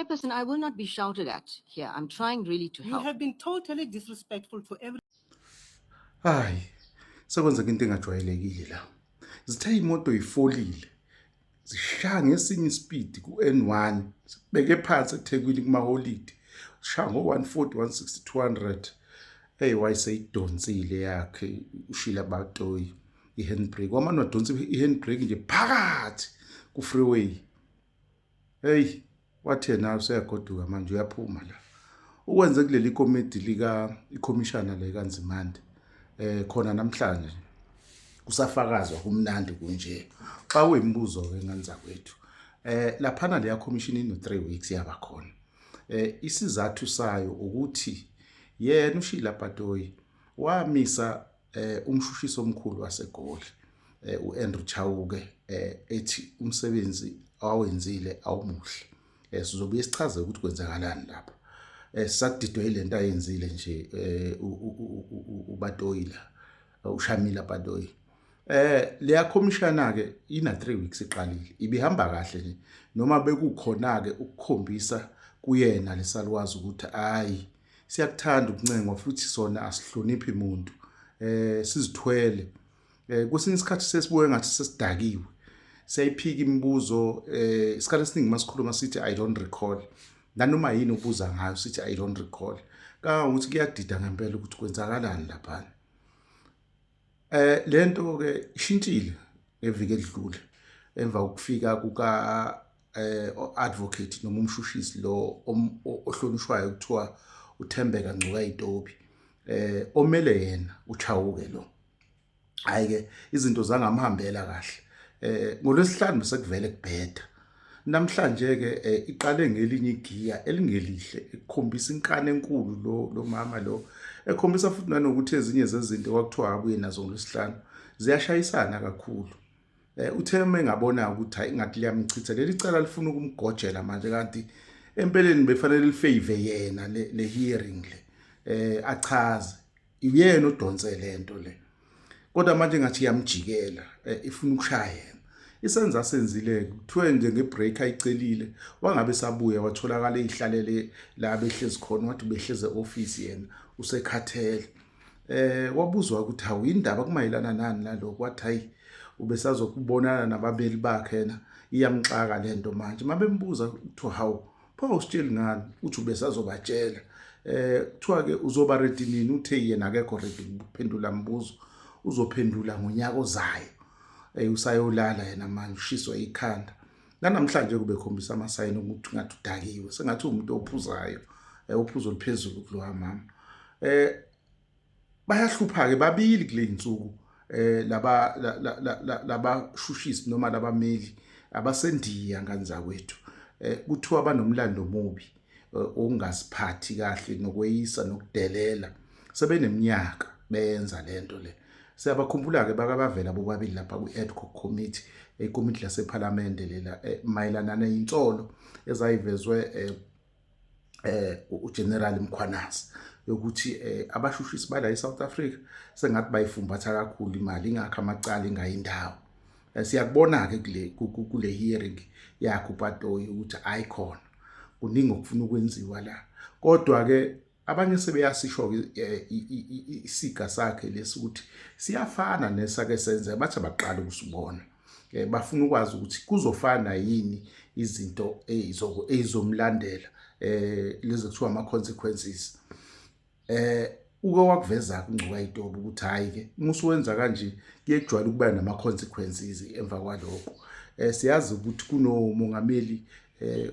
Chairperson, I will not be shouted at here. I'm trying really to help. You have been totally disrespectful to every. Hayi, sekwenzeka into engajwayelekile la. Zithe imoto ifolile. Zishaya ngesinye ispeed ku-N1. Sibeke phansi eThekwini kumaholidi. Sishaya ngo-140, 160, 200. Hey, wayeseyidonsile yakhe ushila batoyi i-handbrake. Wamane wadonsa i-handbrake nje phakathi ku-freeway. Hey, wathi yena useyagoduka manje uyaphuma la. Ukwenze kuleli komiti lika ikhomishana le kaNzimande eh khona namhlanje kusafakazwa kumnandi kunje. Xa uyimibuzo ke nganza kwethu. Eh laphana leya commission ino 3 weeks yaba khona. Eh isizathu sayo ukuthi yena uShila Patoyi wamisa eh umshushisi omkhulu waseGoli eh uAndrew Chauke eh ethi umsebenzi awenzile awumuhle eh sizobuye sichaze ukuthi kwenzakalani lapha eh sakudidwe ilento ayenzile nje eh ubatoyila ushamila batoyi eh leya commissioner ke ina 3 weeks iqalile ibihamba kahle nje noma bekukhona ke ukukhombisa kuyena lesalwazi ukuthi hayi siyakuthanda ukuncengwa futhi sona asihloniphi muntu eh sizithwele eh kwesinye isikhathi sesibuye ngathi sesidakiwe siyayiphika imibuzo eh isikhathi esiningi masikhuluma sithi i don't recall nanoma yini ubuza ngayo sithi i don't recall kangangokuthi kuyadida ngempela ukuthi kwenzakalani laphana Eh lento ke ishintshile ngeviki edlule emva kokufika kuka eh advocate noma umshushisi lo ohlonishwayo kuthiwa uThembeka Ngcuka Itobi eh omele yena uchawuke lo hayi ke izinto zangamhambela kahle eh ngolwesihlanu sekuvele kubheda Namhlanje-ke eh, iqale ngelinye igiya elingelihle ekukhombisa inkani enkulu lo lo mama lo ekhombisa futhi nanokuthi ezinye zezinto kwakuthiwa abuye nazo ngolwesihlanu ziyashayisana kakhulu eh uthe uma engabona ukuthi hayi ngathi liyamchitha leli cala lifuna ukumgojela manje kanti empeleni befanele lifave yena le hearing le eh achaze uyena odonse lento le kodwa manje ngathi yamjikela eh, ifuna ukushaya yena isenza asenzile kuthiwe nje ngebreak ayicelile wangabe sabuya watholakala eyihlalele la behlezi khona wathi behleze office yena usekhathele eh wabuzwa ukuthi hawu indaba kumayelana nani naloko wathi hayi ubesazokubonana nababeli bakhe yena iyamxaka lento manje mabembuza ukuthi hawu pho usitsheli ngani uthi ubesazobatshela eh kuthiwa ke uzoba ready nini uthe yena akekho ready ukuphendula mbuzo uzophendula ngonyaka ozayo eh usayolala yena manje ushiswa ikhanda nanamhlanje kube khombisa amasayini ukuthi ngathi udakiwe sengathi umuntu ophuzayo eh uphuzo liphezulu kulowa mama eh bayahlupha-ke babili kule y'nsuku eh laba labashushisi noma labameli abasendiya ngane zakwethu eh kuthiwa banomlando omubi eh, okungaziphathi kahle nokweyisa nokudelela sebeneminyaka benza lento le siyabakhumbula-ke bakabavela bobabili lapha kwi-edco committee ikomiti lasephalamende lela eh, mayelana neyinsolo ezayivezwe eh, eh uGeneral Mkhwanazi yokuthi eh abashushisi bala eSouth Africa sengathi bayifumbatha kakhulu imali ingakho amacala ingayindawo eh, siyakubona ke kule kule hearing yakhe uPatoyi ukuthi ayikhona kuningi okufuna ukwenziwa la kodwa ke abanye sebeyasisho eh, isiga sakhe lesi ukuthi siyafana nesake senze bathi abaqala ukusibona eh, bafuna ukwazi ukuthi kuzofana yini izinto ezomlandela eh lezi kuthiwa ama consequences eh uke wakuveza kungcuka itobo ukuthi hayi ke musu wenza kanje kuyejwayela ukuba nama consequences emva kwaloko eh siyazi ukuthi kunomongameli eh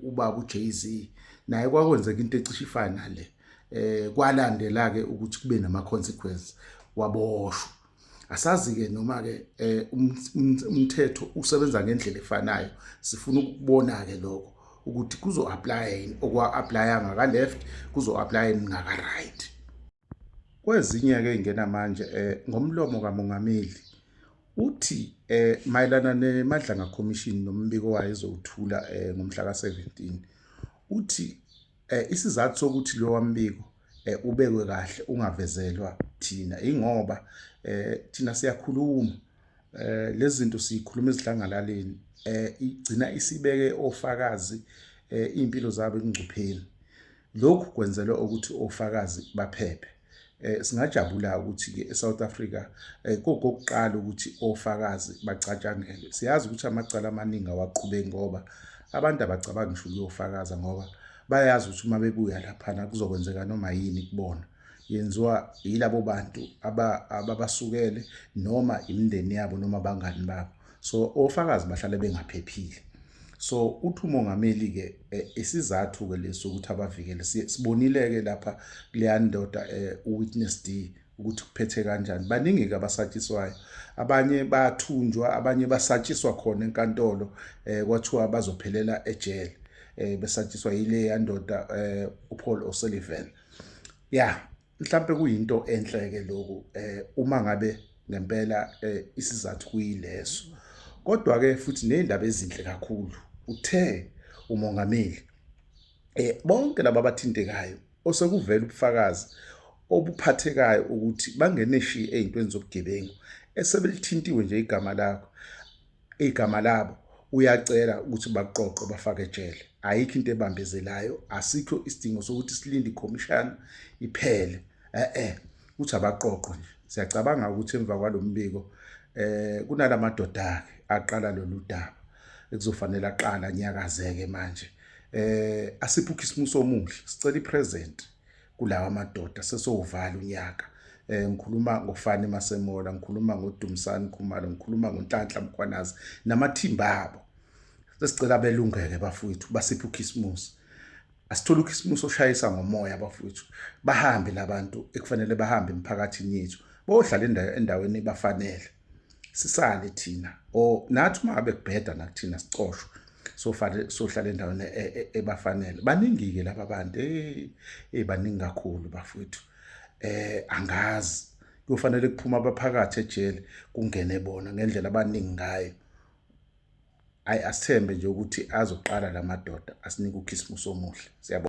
ubaba uJay-Z naye kwakwenzeka into ecishe ifana nale eh kwalandela ke ukuthi kube nama consequences waboshwa asazi ke noma ke eh, um, um, umthetho usebenza ngendlela efanayo sifuna ukubona ke lokho ukuthi kuzo apply yini okwa applyanga ka left kuzo apply yini ngaka right Kwezinye-ke ey'ngena manje um ngomlomo kamongameli uthi um mayelana neMadlanga Commission nombiko wayo ezowuthula um ngomhla ka-seventeen uthi um isizathu sokuthi lowa mbiko um ubekwe kahle ungavezelwa thina ingoba um thina siyakhuluma um lezi zinto siyikhuluma ezidlangalaleni um igcina isibeke ofakazi um iy'mpilo zabo ekungcupheni Lokhu kwenzelwa ukuthi ofakazi baphephe. Eh, singajabula ukuthi-ke eSouth Africa eh, kokokuqala ukuthi ofakazi bacatshangelwe. Siyazi ukuthi amacala amaningi awaqhubeki ngoba abantu abacabangi ngisho ukuyofakaza ngoba bayazi ukuthi uma bebuya laphana kuzokwenzeka noma yini kubona yenziwa yilabo bantu ababasukele noma imindeni yabo noma abangani babo so ofakazi bahlale bengaphephile so uthi umongameli ke eh, isizathu ke leso ukuthi abavikele sibonile ke lapha leyandoda eh, uwitness D ukuthi kuphethe kanjani baningi ke abasatshiswayo abanye bathunjwa abanye basatshiswa khona enkantolo eh kwathiwa bazophelela ejele eh besatshiswa yile yandoda eh uPaul O'Sullivan yeah mhlambe kuyinto enhle ke lokhu eh uma ngabe ngempela eh, isizathu kuyileso kodwa ke futhi nezindaba ezinhle kakhulu uthe umongameli eh bonke laba abathintekayo osekuvela ubufakazi obuphathekayo ukuthi bangene shi ezintweni zobugebengu esebelithintiwe nje igama lakho igama labo uyacela ukuthi baqoqe bafake ejele ayikho into ebambezelayo asikho isidingo sokuthi silinde ikhomishana iphele eh eh uthi abaqoqo nje siyacabanga ukuthi emva kwalombiko eh kunalamadoda akhe aqala lolu daba ekuzofanele aqala nyakazeke manje eh asiphe ukhisimuso omuhle sicela ipresent kulawa madoda sesowuvala unyaka eh ngikhuluma ngofani masemola ngikhuluma ngoDumsani Khumalo ngikhuluma ngoNhlanhla Mkhwanazi namathimba abo sesicela belungeke bafowethu basiphe ukhisimusi asithola ukhisimusi oshayisa ngomoya bafowethu bahambe labantu ekufanele bahambe emphakathini yethu bohlala endaweni ebafanele sisale thina or nathi uma ngabe kubheda nakuthina sicoshwe sofanele sohlala endaweni e, e, ebafanele baningi-ke laba bantu eyi hey, baningi kakhulu bafowethu eh angazi kuyofanele kuphuma abaphakathi ejele kungene bona ngendlela abaningi ngayo ayi asithembe nje ukuthi azoqala la madoda asinike ukhisimusi omuhle siyabona